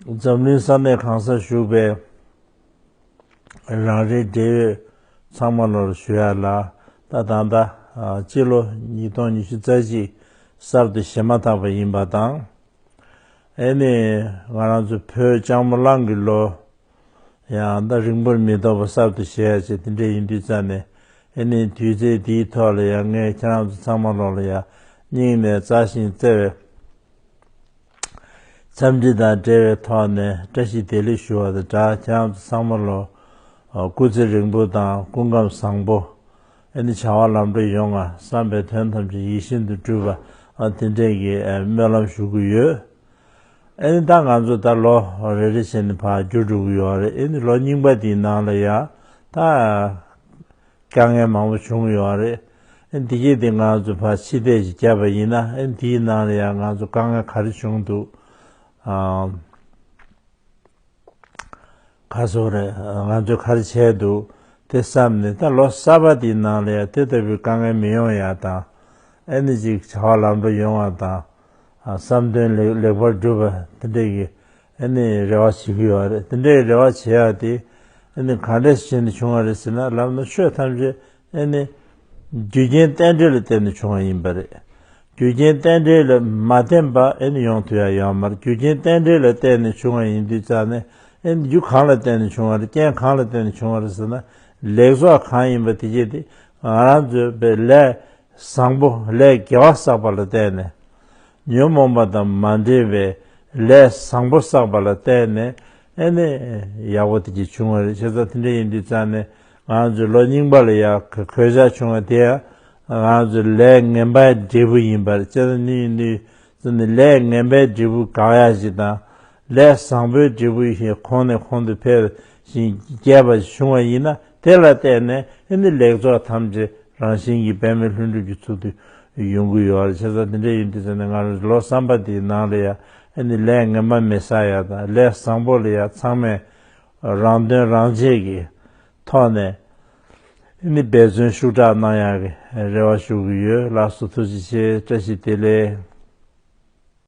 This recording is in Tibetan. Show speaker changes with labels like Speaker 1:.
Speaker 1: འཛམ་གླིང་ས་གནས་གང་སར་བཞུགས་པའི་རང་རེའི་འབྲེལ་ཡོད་ཚང་མ་ལོར་ཞུ་ཡག་ལ་ད་ད་ལྟ་སྤྱི་ལོ་ཉིས་སྟོང་ཉི་ཤུ་རྩ་གཅིག་གསར་དུ་བཞེས་མ་ཐག་པ་ཡིན་པ་དང། ཨེ་ནས་ང་རང་ཚོའི་བོད་ལྕགས་མོ་གླང་གི་ལོ་ཡང་ད་རིང་པོར་མི་ཐོག་པ་གསར་དུ་བཞེས་ཡག་ཅེས་དེ་འདྲས་ཡིན་དུས་རྩ་ནས་ཨེ་ནས་དུས་ཚེས་འདིའི་ཐོག་ལ་ཡང་ངས་ཁྱེད་རང་ཚོ་ཚང་མ་ལོར་ཡང་སྙིང་ནས་རྩ་ཞིང་བརྩེ་བའི། འཚམས་འདྲི་དང་འབྲེལ་བའི་ཐོག་ནས་བཀྲ་ཤིས་བདེ་ལེགས་ཞུ་བ་དང་སྦྲགས་བྱམས་བཟང་མོ་ལོ་སྐུ་ཚེ་རིང་པོ་དང་སྐུ་ཁམས་བཟང་པོ། ཨེ་ནི་བྱ་བ་ལམ་འགྲོ་ཡོང་ང་བསམ་པའི་དོན་ཐམས་ཅད་ཡིད་བཞིན་དུ་འགྲུབ་པ་དེ་འདྲས་ཀྱི་སྨོན་ལམ་ཞུ་གི་ཡོད། ཨེ་ནི་ད་ང་ཚོ་ད་ལོ་རེ་རེ་བྱས་ནས་བར་འགྱུར་འགྲོ་གི་ཡོད་རེད་ཨེ་ནི་ལོ་རྙིང་པ་དེའི་ནང་ལ་ཡང་ད། དཀའ་ངལ་མང་པོ་བྱུང་ཡོད་རེད། འདི་སྐད་དེ་ང་ཚོ་ཕ་ཕྱི་བལྟས་ཀྱིས་བརྒྱབ་པ་ཡིན་ན་འདིའི་ནང་ལ་ཡང་ང་ཚོ་དཀའ་ངལ་ག་རེ་བྱུང་འདུག་ག་སོང་རེད་ང་ཚོས་ག་རེ་བྱས་འདུག་དེ་བསམ་ནས་ད་ལོ་གསར་པ་དེའི་ནང་ལ་ཡང་དེ་ལྟ་བུའི་དཀའ་ངལ་མི་ཡོང་ཡ་དང་ཨེ་ནི་ཅིག་བྱ་བ་ལམ་འགྲོ་ཡོང་བ་དང་བསམ་དོན་ལེགས་པར་འགྲུབ་པ་དེ་འདྲའི་གི་རེ་བ་བྱེད་ཀྱི་ཡོད་རེད་དེ་འདྲའི་རེ་བ་བྱས་ཡ་དེ་ག་འདྲ་ཞིག་བྱས་ནས་བྱུང་བ་རེད་ཟེར་ན་ལབ་ན་ཆོས་ཐམས་ཅད་རྒྱུ་རྐྱེན་རྟེན་འབྲེལ་ལ་བརྟེན་ནས་བྱུང་བ་ཡིན་པ་རེད་རྒྱུ་རྐྱེན་རྟེན་འབྲེལ་ལ་མ་བརྟེན་པ་ཡོང་དུས་ཡ་ཡང་མར་རྒྱུ་རྐྱེན་རྟེན་འབྲེལ་ལ་བརྟེན་ནས་བྱུང་བ་ཡིན་དུས་ཙང་ནས་རྒྱུ་གང་ལ་བརྟེན་ནས་བྱུང་བ་རེད་རྐྱེན་གང་ལ་བརྟེན་ནས་བྱུང་བ་རེད་ཟེར་ན་ལེགས་ཚོགས་གང་ཡིན་པ་དེ་རྗེས་དེ་ང་རང་ཚོའི་བའི་ལས་བཟང་པོ་ལས་དགེ་བ་བསགས་པ་ལ་བརྟེན་ནས་ཉོན་མོངས་པ་དང་མ་འབྲེལ་བའི་ལས་བཟང་པོ་བསགས་པ་ལ་བརྟེན་ནས་ཨེ་ནས་ཡག་པོ་དེ་གྱིས་བྱུང་བ་རེད་ཆེ་ཚ་དེ་འདྲ་ཡིན་དུས་ཙང་ནས་ང་ཚོས་ལོ་རྙིང་པ་ལ་ཡག་གི་གོད་ཆག་བྱུང་བ་དེ་ཡང་ང་ཚོས་ལས་ངན་པའི་འབྲས་བུ་ཡིན་པ་རེད་ཆེ་ཚ་འདི་ཡིན་དུས་ཙང་ནས་ལས་ངན་པའི་འབྲས་བུ་གང་ཡག་ཞིག་དང་ལས་བཟང་པོའི་འབྲས་བུ་ཞིག་ཁོང་ནས་ཁོང་དུ་འཕེལ་ཞིང་རྒྱས་པ་བྱུང་བ་ཡིན་ན་དེ་ལ་བརྟེན་ནས་ཨི་ནི་ལེགས་ཚོགས་ཐམས་ཅད་རང་བཞིན་གྱིས་འབད་མེད་ལྷུན་གྲུབ་ཀྱི་ཚུལ་དུ་ཡོང་གི་ཡོད་རེད་བྱས་ཙང་དེ་འདྲ་ཡིན་དུས་ཚོད་ནི་སྔ་རོལ་ལོ་བསམ་པ་དེའི་ནང་ལ་ཡང་ཨི་ནི་ལས་ངན་པ་མི་ས་ཡ་དང་ལས་བཟང་པོ་ལ་ཡང་ཚང་མས་རང་དོན་རང་གཅེས་ཀྱི་ཐོག་ནས་ཨི་ནི་འབད་བརྩོན་ཤུགས་དྲག་གནང་ཡག་གི་རེ་བ་ཞུ་གི་ཡོད་ལགས་སོ་ཐུགས་རྗེ་ཆེ་བཀྲ་ཤིས་བདེ་ལེགས།